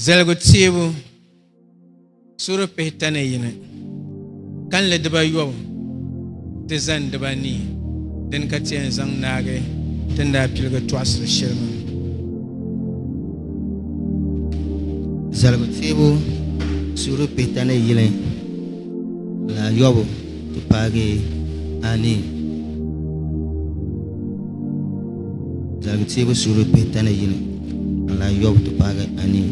Zaligu teebu suri pihita ni yini, kanli dibayobu ti zani dibanii, dini ka ti yɛn zaŋ naagi ti ni daa piligi tɔɣisiri shɛli maa. Zaligu teebu suri pihita ni yini, naayɔbu. Ti paagi a ni zaligi teebu suhuri pihi tani yini n lan yɔbu ti paagi a ni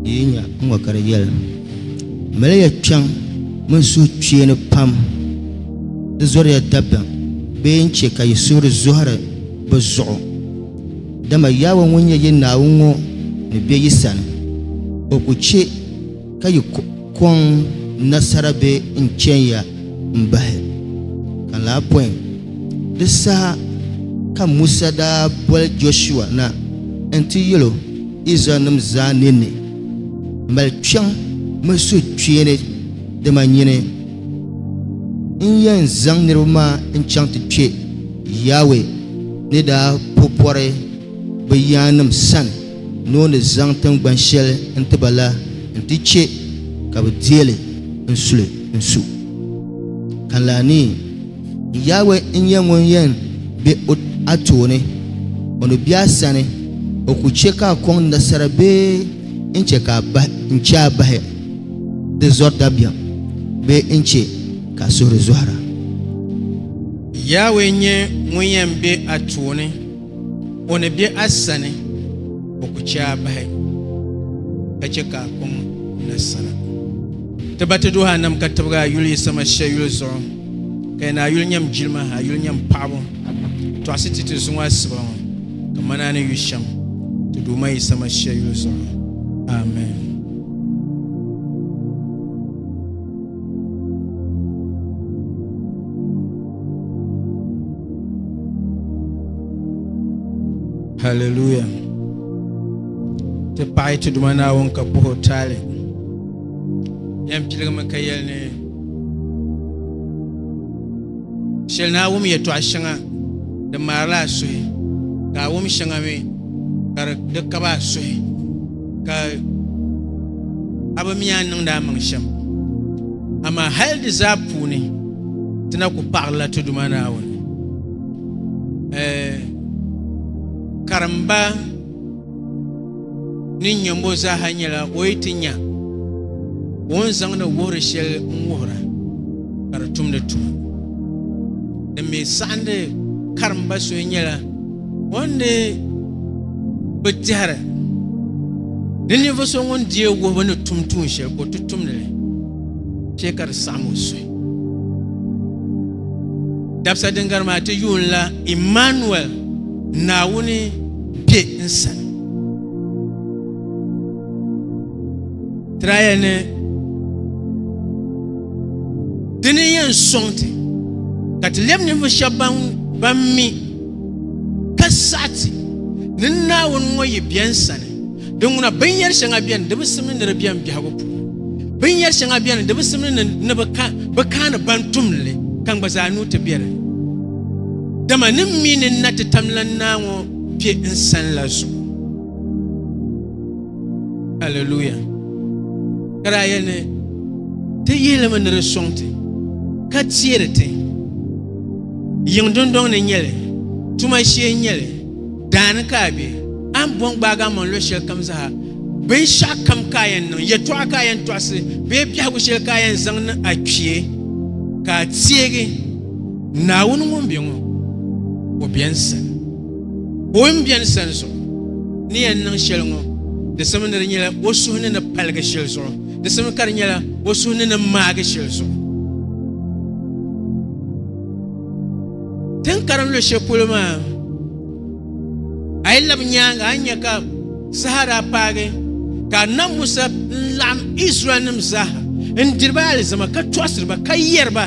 yi yi nya n ŋɔ ka di yɛli, Mali ya kpiɔŋ mini suhukpeeni pam di zɔri ya dabiɛm bee n-chɛ ka yi suhuri zɔhiri bɛ zuɣu. Dama Yawɛ ŋun nyɛ yi Naawuni ŋɔ ni be yi sani, o ku chɛ ka yi kɔŋ nasara bɛ n-chɛya m-bahi ka laa pɔi. Di saha ka Musa daa boli Jɔshua na nti yɛl o Izraɛlnim zaa ninni, Mali kpiɔŋ mini suhukpeeni dama nyini n-yɛn zaŋ niriba maa n-chaŋ ti kpe Yawɛ ni daa po pɔri bɛ yaannim sani. ni o ni zaŋ tiŋgban shɛli n-ti ba la nti chɛ ka bɛ deei li n-suli n-su. Kanlaa ni, Yawɛ n-nyɛ ŋun yɛn be a tooni, o ni be a sani, o ku chɛ ka a kɔŋ nasara bee n-chɛ ka a bahi n-chɛ a bahi di zɔri dabiɛm bee n-chɛ ka a suhuri zɔhira. Yawɛ n-nyɛ ŋun yɛn be a tooni. O ni be a sani, o ku chɛ a bahi ka chɛ ka a kpaŋ nasara. Ti ba ti duhi a nam ka tibigi a yuli yi sama shia yuli zuɣu, ka yi ni a yuli nyam jilima, a yuli nyam paɣibu, tɔɣisi ti ti zuŋɔ asiba ŋɔ, kaman a ni yu shɛm ti Duuma yi sama shia yuli zuɣu. Amen. Hallelujah. Ti paɣi ti duma naawuni ka puhi o taali. Yɛn piligimi ka yɛli ni shɛli naa wum yɛtɔɣa shɛŋa di maarila a suhi ka a wum shɛŋa mi ka di kaba a suhi. ka a bi mi a ni niŋdi a maŋ shɛm amaa hali di zaa puuni ti na ku paɣirila ti Duuma Naawuni karimba ni nyɛmbo zaaha nyɛla o yi ti nya ka o ni zaŋdi wuhiri shɛli n-wuhira ka di tumdi tuma din mi saɣindi karimba so nyɛla O ni bi tɛhiri ni ninvuɣ so ŋun deei wuhibu ni tum tuun shɛli ka o ti tumdi li chɛ ka di saɣim o suhu. Dabisa din gari maa ti yuunila Immanuel, Naawuni be n sani. Tiraya ni dini yɛn sɔŋ ti ka ti lɛbi ninvuɣ shɛba ban mi Ka saɣiti ni Naawuni ŋɔ yi bɛn sani, di ŋuna binyɛri shɛŋa bɛni di bi simdi ni di bɛn biɛhigu puuni, binyɛri shɛŋa bɛni di bi simdi ni ni bi kaani ban tum li, ka n gba zaa nuu ti bɛ di ni. Dama ni m mi ni n na ti tamlan naa ŋɔ kpe n sani la zuɣu. Alleluia! Ka daa yɛli ni, Ti yihi li mi ni di sɔŋ ti, ka teeri ti. Yiŋ dundɔŋ ni n-nyɛ li, tuma shee n-nyɛ li, daani ka a be, a ni bɔŋ gbaagi a maŋ luɣ shɛli kam zaa, binshɛɣ kam ka a yɛn niŋ, yɛtɔɣa ka a yɛn tɔɣisi bee biɛhigu shɛli ka a yɛn zaŋ ni a kpee, ka a teegi Naawuni ŋun be ŋɔ o beni sani. O yi ni beni sani zuɣu ni yɛn niŋ shɛli ŋɔ, di simdi ni di nyɛla o suhu ni ni paligi shɛli zuɣu. Di simi ka di nyɛla o suhu ni ni maagi shɛli zuɣu. Tin karim lu shɛli polo maa, a yi labi nyaanga a ni nya ka saha daa paagi ka Annabi Musa laɣim Izraɛlnim zaaha n-diri ba alizama ka tɔɣisiri ba ka yɛri ba,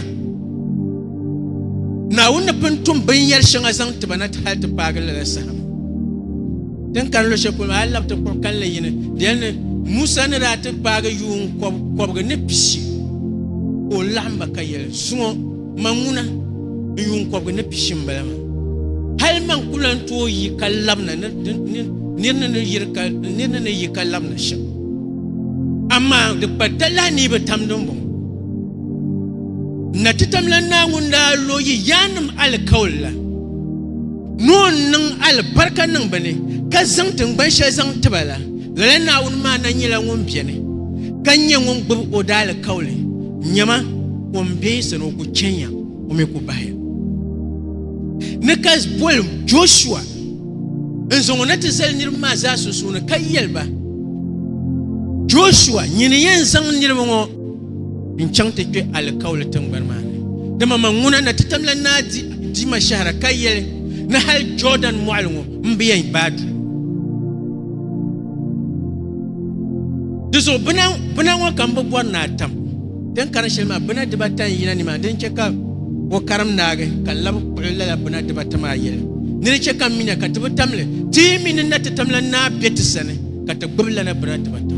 Naawuni ni pun tum binyɛr shɛŋa zaŋ ti ba na hal ti paagi lala saha maa. Tin kani lo shɛli polo maa, a ni labi ti kpuɣi kalinli yini di yɛli ni Musa ni daa ti paagi yuun kɔbigu ni pishi ka o laɣim ba ka yɛli, Suŋɔ, man ŋuna, n yuun kɔbigu ni pishi m-bala maa. Hal man ku lan tooi yi ka labina ni nir ni ni yi ka labina shɛm. Amaa di kpa talahi ni yi bi tam dimbɔŋɔ. N na ti tam la Naa ŋun daa lo yi yaannim alikauli la. Noo n-niŋ alibarika niŋ bɛ ni, ka zaŋ tiŋgban shɛli zaŋ ti ba la, lala Naawuni maa na nyɛla ŋun beni, ka nyɛ ŋun gbib o daalikauli. Nyama, o ni be sani o ku chɛnya, o mi ku bahiya ni ka boli Jɔshua n-zaŋ o na ti zali niriba maa zaa sunsuuni, ka yɛli ba, Jɔshua, nyini yɛn zaŋ niriba ŋɔ. n chaŋ ti kpe alikauli tingbani maa ni. Dama man ŋuna na ti tamla naa diima shɛhira ka yɛli ni hal Jɔɔdan mɔɣili ŋɔ m bi yɛn gbaai duli. Di zuɣu bina ŋɔ ka m bi bɔri ni a tam. Din karin shɛli maa, bina dibata n-yina nimaani. Din chɛ ka o karim naagi ka lab kpuɣi lala bina dibata maa yɛli, Ni di chɛ ka m mi na ka ti bi tam li, ti yi mi ni na ti tamla naa be ti sani. ka ti gbubi lana bira dibata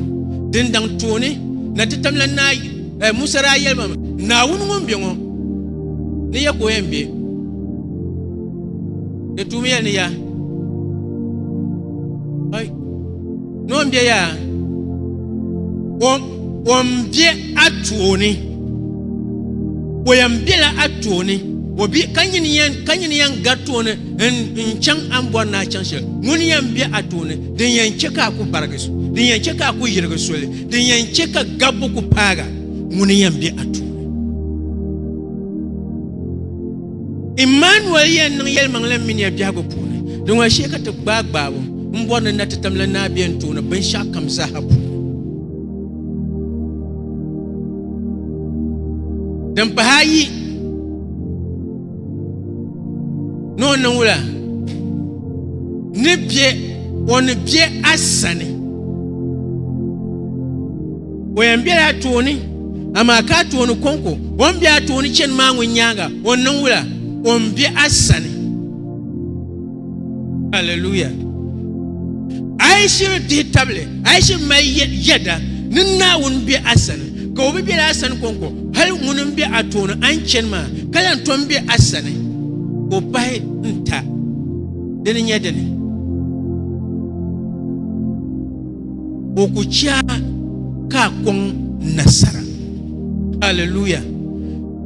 din daŋ tooni na ti tam la naa eh, Musa daa yɛli ma Naawuni ŋun be ŋɔ ni ya ka o yɛn be di tuumi yɛli ni ya ai ni o be ya o be a tooni o yɛn bela a tooni o bi ka nyini yɛn ka nyini yɛn gari tooni n chaŋ an bɔri naa chaŋ shɛli ŋuni yɛn be a tooni Din yɛn chɛ ka a ku barigi, din yɛn chɛ ka a ku yirigi soli, din yɛn chɛ ka gabbu ku paag a, ŋuni yɛn be a tuuli. Immanuel yɛn niŋ yɛlimaŋli m-miniya biɛhigu puuni. Di ŋɔli shee ka ti gbaai gbaabu m-bɔri ni na ti tam la Naa Bia n-tooni binshɛɣu kam zaaha puuni. Din pahi ayi. ni o niŋ wula ni bɛ o ni bɛ a sani o yɛn bɛla a tooni amaa ka a tooni kɔŋko o ni bɛ a tooni chɛni maa ŋun nyaanga o niŋ wula o ni bɛ a sani Hallelujah. A yi shiri dihi tabili, a yi shiri mali yɛda ni Naawuni be a sani, ka o bi bela a sani kɔŋko, hali ŋuni m-be a tooni a ni chani maa, ka lan tom be a sani, ka o pahi n-ta. Di ni nya dini? Ka o ku chɛ a ka a kɔŋ nasara. Hallelujah.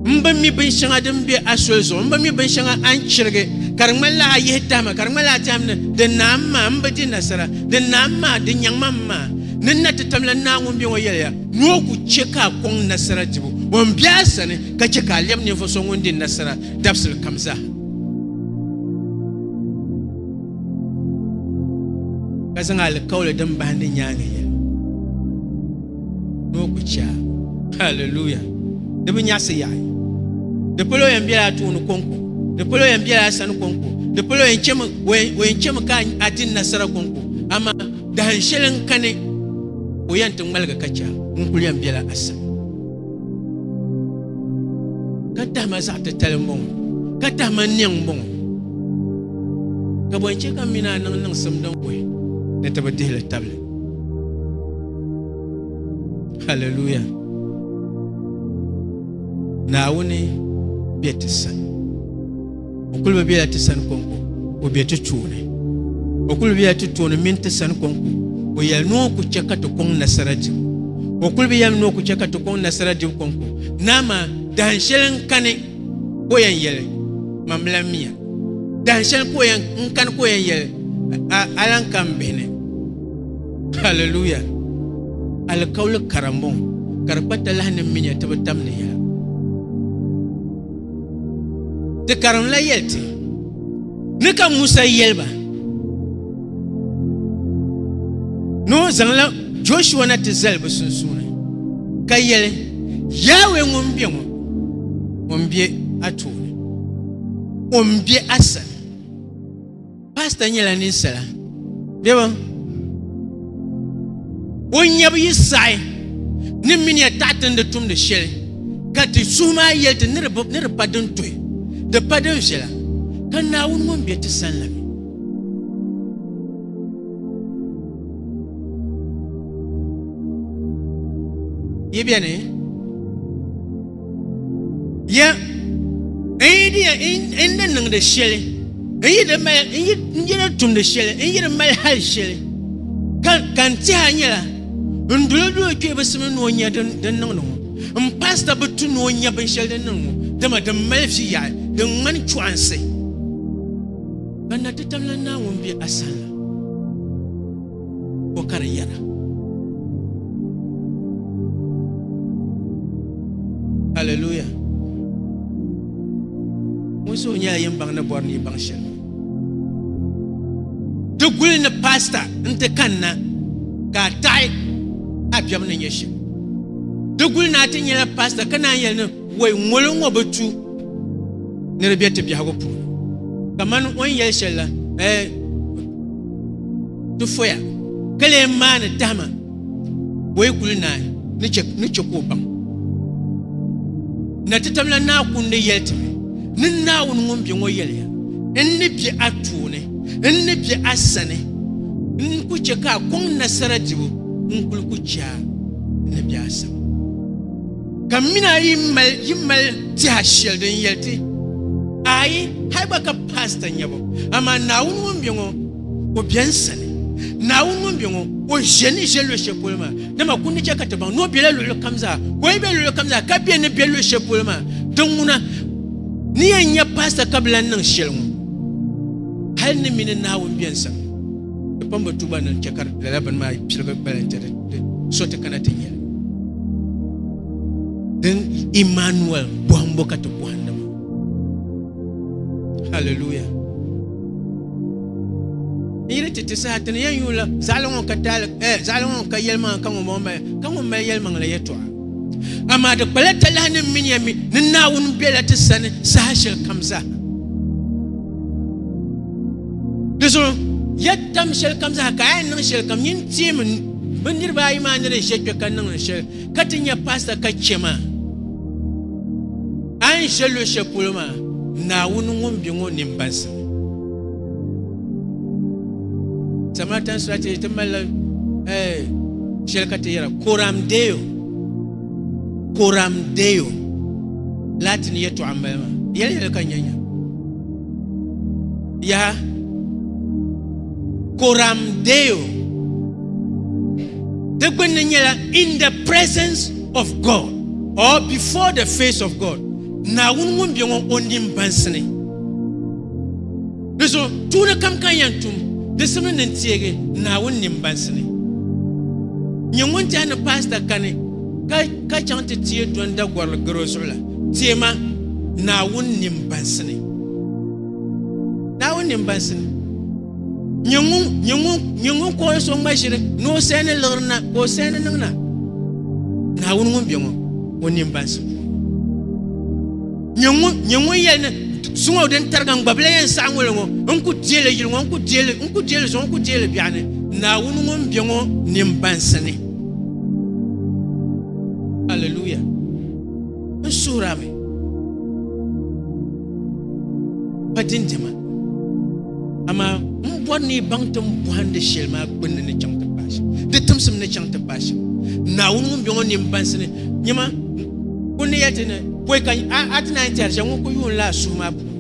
n bi mi bin shɛŋa din be a soli zuɣu n bi mi bin shɛŋa a ni chirigi ka di ŋmanila a yihi tahima ka di ŋmanila a tɛhim ni din naam maa n bi di nasara din naam maa din nyaŋma m maa ni n na ti tamla n naa ŋun be ŋɔ yɛliya ni o ku chɛ ka a kɔŋ nasara dibu o ni be a sani ka chɛ ka a lɛbi ninvuɣ so ŋun di nasara dabisili kam zaa. ka zaŋ alikauli din bahindi nyaaŋa yɛli. ni o kpi chɛa haleluya di bi nyaɣisi yaɣi di polo yɛn bela a tooni kɔŋko di polo yɛn bela a sani kɔŋko di polo yɛn chɛmi o yɛn chɛmi ka a di nasara kɔŋko amaa dahin shɛli n kani o yɛn ti ŋmaligi ka chɛa ŋun kuli yɛn bela a sani ka tahima zaɣ titali n bɔŋɔ ka tahima niɛŋ n bɔŋɔ ka bɔn chɛ ka mi ni a niŋ niŋsim din kuhi ni ti bi dihili tabili Hallelujah. Naawuni bɛ ti sani. O kuli bi bɛla ti sani konko, o bɛ ti tooni. O kuli bɛla ti tooni mini ti sani konko. O yɛli ni o ku chɛ ka ti kɔŋ nasara dibu. O kuli bi yɛli ni o ku chɛ ka ti kɔŋ nasara dibu konko. Naa maa dahin shɛli n kani ka o yɛn yɛli, Mam lahi miya. Dahin shɛli ka o yɛn n kani ka o yɛn yɛli, A lahi ka m bihi ni. Hallelujah! Alikauli kara m-bɔŋɔ ka di kpa talahi ni minya ti bi tam ni yɛla. Ti karimla yɛli ti ni ka Musa yɛli ba ni o zaŋla Joshua na ti zali bɛ sunsuuni ka yɛli, Yawɛ ŋun be ŋɔ Ŋun be a tooni o n be a sani paasita nyɛla ninsala bɛba o nyɛbu yi saɣi ni mini ya taɣatindi tumdi shɛli ka ti suhu maa yɛli ti ni di pa din tuhi di pa din viɛla ka naawuni ŋun be ti sani la mi Yi beni? Ya n yi di ya n ni niŋdi shɛli n yi di mali n yi n yi di tumdi shɛli n yi di mali hali shɛli ka ka n tiha nyɛla n duli duli kpee bi simi ni o nya din din niŋdi ŋɔ n paasita bi tu ni o nya binshɛli din niŋ ŋɔ dama din mali vi yaɣi din ŋmani chɔɣinsi. Ka na ti tabila Naawuni be a sani la, o ka di yɛra. Hallelujah! Wunsi o nyɛla yin baŋ ni bɔri ni yi baŋ shɛli. Ti guli ni paasita n-ti kanna ka a taɣi a biɛbu ni nyɛ shɛm. Ti guli ni a ti nyɛla paasita ka naan yɛli ni Wei ŋolo ŋɔ bi tu ni di bɛ ti biɛhigu puuni kamani o ni yɛli shɛli la eh, ti foya ka lee maani tahima wei kuli naai ni chɛ ni chɛ ka o baŋ na ti tabila naa kundi yɛli ti mi ni Naawuni ŋun bɛ ŋɔ yɛliya n ni bɛ a tooni n ni bɛ a sani n ku chɛ ka a kɔŋ nasara dibu n kuli ku chɛ a ni bɛ a sani Ka m mini a yi mali yi mali tiha shɛli din yɛli ti ayi hali gba ka paasita nyɛ bo amaa Naawuni ŋun bɛ ŋɔ o bɛn sani Naawuni ŋun bɛ ŋɔ o ʒe ni ʒe luɣi shɛli polo maa dama ku ni chɛ ka ti baŋ ni o bɛla luɣili kam zaa ka o yi be luɣili kam zaa ka bɛ ni bɛ luɣi shɛli polo maa din ŋuna ni yɛn nyɛ paasita ka bi lan niŋ shɛli ŋɔ hali ni mini Naawuni bɛn sani Di kpamba tubu anu n-chɛ ka lala bini maa piligi gbali nti di so ti kana ti nyɛli. Din Emmanuel bɔhimbo ka ti bɔhindi maa. Hallelujah. N yiri ti ti saha ti ni yɛn yuun la zaɣili ŋɔ ka taali eh zaɣili ŋɔ ka yɛlimaŋa ka ŋun bɔŋɔ mali ka ŋun mali yɛlimaŋa la yɛtɔɣa. Amaa di kpala talahi ni miniya mi ni Naawuni bela ti sani saha shɛli kam zaa. Di zuɣu ya tam shɛli kam zaa ka a yɛn niŋ shɛli kam nyin teemi bi niriba ayi maa ni di ʒe kpe ka niŋdi shɛli ka ti nya paasita ka chɛ maa a ni ʒe luɣ shɛli polo maa Naawuni ŋun be ŋɔ nini baŋsim Samaritan strategy ti malila shɛli ka ti yɛra coram deo coram deo laati ni yɛtɔɣa m-bala maa yɛli yɛli ka nya nya Yaha, Coram Deo, di gbunni nyɛla in the presence of God or before the face of God. Naawuni ŋun bɛ ŋɔ o nin bansi ni. Di so tuuni kam kan yɛn tum di simini ni teegi Naawuni nin bansi ni. Nyɛ ŋun tɛha ni paasita kani Ka chaŋ ti teei dɔnda gɔrili gari o zuɣu la, teei ma Naawuni nimbansini. Naawuni nimbansini. Nyɛ ŋun kɔhi so ŋma ʒiri ni o saha ni liɣiri na ka o saha ni niŋ na. Naawuni ŋun be ŋɔ, o nimbansini. Nyɛ ŋun yɛli ni zuŋɔ din tariga n gbabila yɛn saɣi ŋɔli ŋɔ, n ku deei li yili ŋɔ, n ku deei li zuɣu, n ku deei li biɛɣu ni. Naawuni ŋun be ŋɔ nimbansini. Hallelujah. N suhira mi pa dindima amaa n bɔri ni yi baŋ tin bɔhindi shɛli maa gbunni ni chaŋ ti paai shɛm di timsim ni chaŋ ti paai shɛm naawuni ŋun bɛ ŋɔ ni n bansi ni nyɛma kun ni yɛli ti ni pɔi ka a ti naan tiɛri shɛm ŋun ku yuun laa suhu maa puuni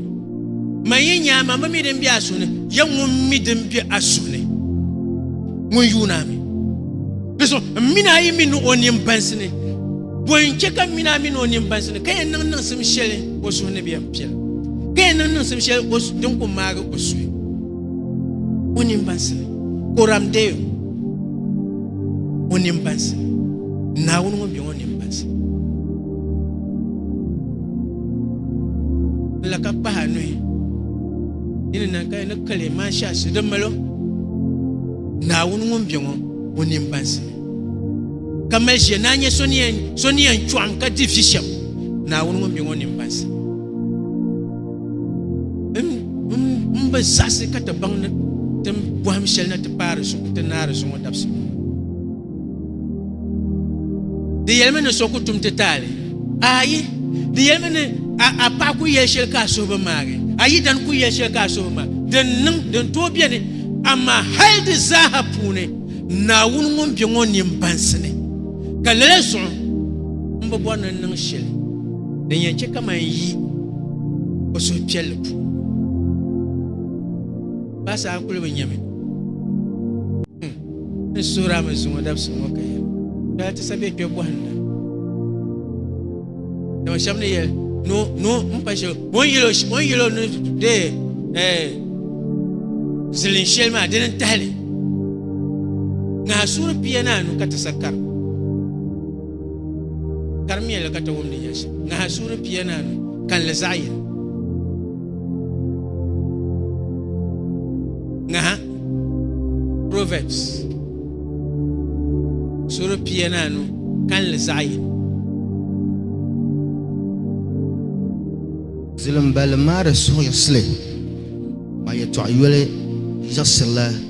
Man yi nya ma, ma mi din be a suhu ni, ya ŋun mi din be a suhu ni, ŋun yuun a mi. Di so, m min a yi mi ni o nin bansi ni. Bɔn n che ka m min a mi ni o nin bansi ni, ka yɛn niŋ niŋsim shɛli o suhu ni bɛ yɛn piɛl, ka yɛn niŋ niŋsim shɛli o din ku maagi o suhu o nin bansi ni. Koram deei o o nin bansi ni, Naawuni ŋun be o nin bansi ni. la ka kpahi a nuhi yi ni niŋ ka yi ni kali maa shɛli si di malo naawuni ŋun bɛ ŋɔ o nin bansi ka mali ʒiya naa nyɛ so ni yɛn chɔɣim ka di vi shɛm naawuni ŋun bɛ ŋɔ nin bansi n bi zaɣisi ka ti baŋ ni ti bɔhim shɛli na ti paari zuɣu ti naari zuɣu dabisi Di yɛlimi ni so ku tum ti taali? Ayi. Di yɛlimi ni a paɣa ku yɛli shɛli ka a suhu bi maagi, a yidana ku yɛli shɛli ka a suhu bi maagi. Din niŋ, din tooi beni, amaa hal di zaaha puuni Naawuni ŋun be ŋɔ ni m-bansi ni, ka lala zuɣu m bi bɔri ni n niŋ shɛli din yɛn chɛ ka man yi o suhupiɛlli puuni. Baa saha kuli bi nya mi. N suhiri a mi zuŋɔ dabisili ŋɔ ka yɛli, Dɔya ti sa bɛ kpe bɔhinda. Dama shɛba ni yɛli, Noo, noo m-pa shɛli, o ni yɛli o ni yɛli o ni deei zilin shɛli maa, dini n-tahi li. Ŋaha suuri pia ni anu ka ti sa karim. Karim yɛlli ka ti wum ni yɛli shɛm. Ŋaha suuri pia ni anu, kalinli zaɣ yini. Ŋaha Proverbs sura pia ni anu kanli zaɣ yini Zilimbali maa di suhuyisili maa yɛtɔɣ yoli yiɣisirila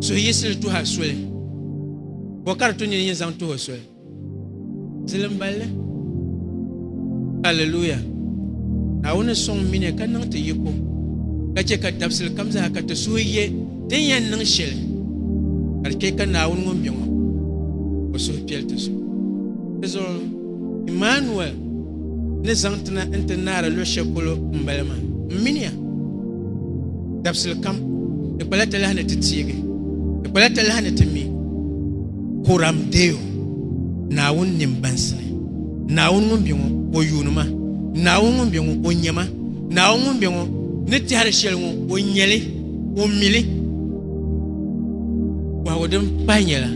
suhuyiɣisili tuha soli ka o kari tu nini yini zaŋ tuhi o soli zilim balli aleluya naawuni sɔŋ mini ka niŋ ti yiko ka chɛ ka dabisili kam zaa ka ti suhi ye din yɛn niŋ shɛli ka di chɛ ka naawuni ŋun bɛ ŋɔ o suhu piɛli ti zuɣu ti zuɣu Emmanuel ni zaŋ ti na nti naari luɣ shɛli polo m-bala maa. M mini ya, dabisili kam, di kpala talahi ni ti teegi, di kpala talahi ni ti mi. Coram Deo, Naawuni nini bansi ni, Naawuni ŋun be ŋɔ, O yuuni ma, Naawuni ŋun be ŋɔ, O nya ma, Naawuni ŋun be ŋɔ, ni tɛhiri shɛli ŋɔ, O nya li, O mi li. Bɔhigu din pahi nyɛla,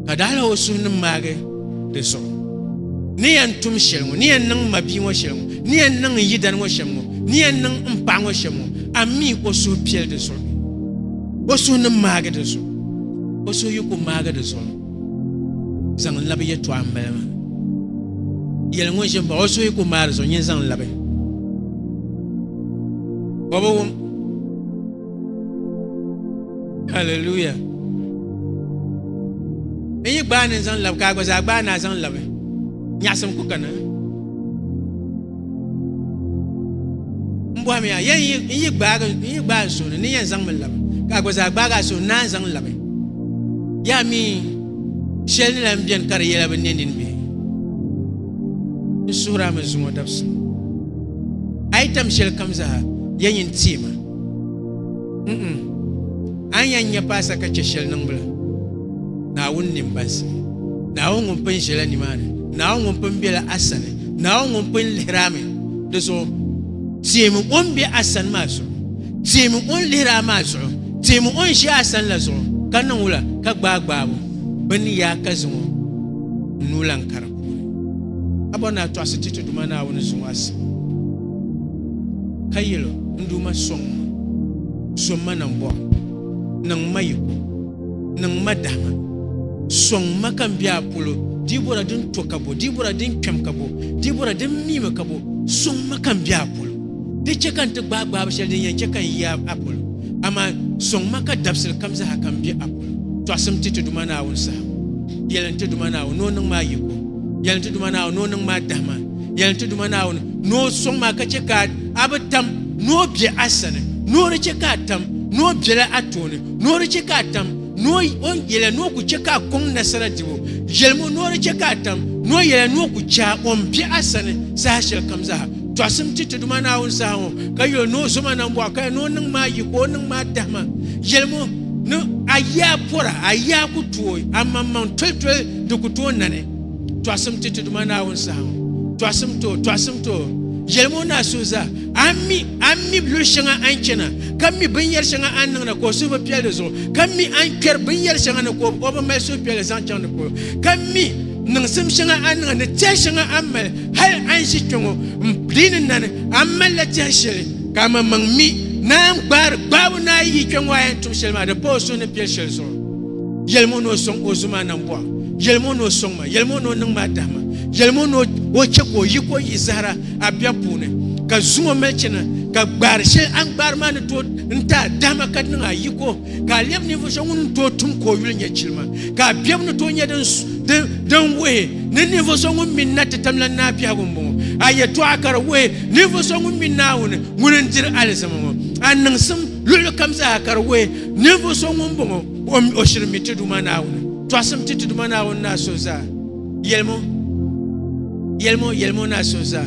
Ka daɣila o suhu ni maagi? di zuɣu ni yɛn tum shɛli ŋɔ ni yɛn niŋ ma bia ŋɔ shɛli ŋɔ ni yɛn niŋ n yidani ŋɔ shɛm ŋɔ ni yɛn niŋ n paɣa ŋɔ shɛm ŋɔ a mi o suhu piɛli di zuɣu o suhu ni maagi di zuɣu o suhu yi ku maagi di zuɣu zaŋ n labi yɛtɔɣa n bala maa yɛli ŋun ʒi n baɣa o suhu yi ku maagi di zuɣu nyini zaŋ labi o bi wum Hallelujah. N yi gbaai ni n zaŋ labi ka a gba zaa gbaai ni a zaŋ labi. Nyaɣasim ku kana. N bɔhimi ya, yɛn yi- n yi gbaagi n yi gbaai n suhuni ni yɛn zaŋ mi labi ka a gba zaa gbaagi a suhuni ni a zaŋ labi. Yaa mi shɛli ni lan beni ka di yɛla bi ne nini bee. N suhiri a mi zuŋɔ dabisili. A yi tam shɛli kam zaa, yɛn yi n-teei ma. a ni yɛn nyɛ paasa ka chɛ shɛli niŋbila Naawuni nini bansi Naawuni ŋun pun ʒila nimaani Naawuni ŋun pun bela a sani Naawuni ŋun pun lihirami di zuɣu teemi o ni be a sani maa zuɣu teemi o ni lihiri a maa zuɣu teemi o ni ʒi a sani la zuɣu ka niŋ wula ka gbaai gbaabu bin yaa ka zaŋ o nuu lan kari puuni a bɔri ni a tɔɣisi ti ti Duuma Naawuni zuŋɔ a sani ka yɛl o, N Duuma, sɔŋ ma! Zo ma nambɔɣu! Niŋ ma yiko! Niŋ ma dahima! Sɔŋ ma ka n be a polo! Dibɔra din to ka bo? Dibɔra din kpɛm ka bo? Dibɔra din miimi ka bo? Sɔŋ ma ka n be a polo! Di chɛ ka n ti gbaai gbaabu shɛli din yɛn chɛ ka n yi a polo, amaa sɔŋ ma ka dabisili kam zaa ka m be a polo. Tɔɣisim ti ti Duuma Naawuni saha. Yɛli n ti Duuma Naawuni ni o niŋ ma yiko. Yɛli n ti Duuma Naawuni ni o niŋ ma dahima. yɛli ti Duuma Naawuni ni o sɔŋ ma ka chɛ ka a bi tam ni o be a sani, ni o di chɛ ka a tam ni o bela a tooni, ni o di chɛ ka a tam ni o yɛla ni o ku chɛ ka a kɔŋ nasara dibu yɛlimu, ni o di chɛ ka a tam ni o yɛla ni o ku chɛ a o ni be a sani saha shɛli kam zaa. Tɔɣisim ti ti Duuma Naawuni saha ŋɔ, ka yuli ni o zo ma nambɔɣu, ka ni o niŋ ma yi ka o niŋ ma tahima yɛlimu, ni a yi a pɔra, a yi a ku tooi amaŋmaŋ tolitoli di ku tooi nani. Tɔɣisim ti ti Duuma Naawuni saha ŋɔ. Tɔɣisim ti o, tɔɣisim ti o. Yɛlim o naa Suza, a ni mi, a ni mi luɣ shɛŋa a ni chana, ka mi binyɛr shɛŋa a ni niŋ na ka o suhu bi piɛli di zuɣu, ka mi a ni kpɛri binyɛr shɛŋa ni ka o bi mali suhupiɛlli zaŋ chaŋ di polo, ka mi niŋsim shɛŋa a ni niŋ ni tɛha shɛŋa a ni mali hal a ni ʒi kpe ŋɔ m di ni na ni, a malila tɛha shɛli ka amaŋmaŋ mi naan gbaari gbaabu ni a yi yi kpe ŋɔ a yɛn tum shɛli maa di pa o suhu ni piɛli shɛli zuɣu. Yɛlim o ni o sɔŋ o zumaa na m-bɔh a. Yɛlim o ni o sɔŋ ma. Yɛlim o ni o niŋ ma a dahi ma. Yɛlim o ni o chɛ ka o yi ka o yi zahira a biɛb puuni, ka zuŋ o mali chana, ka gbaar shɛli a ni gbaar maa ni tooi n-ti a dahi ma ka di niŋ a yiko, ka a lɛb ninvuɣ so ŋun ni tooi tum ka o yuli nyɛ chilima, ka a biɛbu ni tooi nyɛ din wuhi ni ninvuɣ so ŋun mi na ti tam la Naa biɛhigu m-bɔŋɔ. A yɛtɔɣa ka di wuhi ninvuɣ so ŋun mi Naawuni ŋun n-diri alizama ŋɔ. A niŋsim luɣilikam zaa ka di wuhi Ninvuɣ so ŋun bɔŋɔ, o shirimi ti Duuma Naawuni, tɔɣisim ti ti Duuma Naawuni ni a so zaa. Yɛlim o, yɛlim o, yɛlim o ni a so zaa.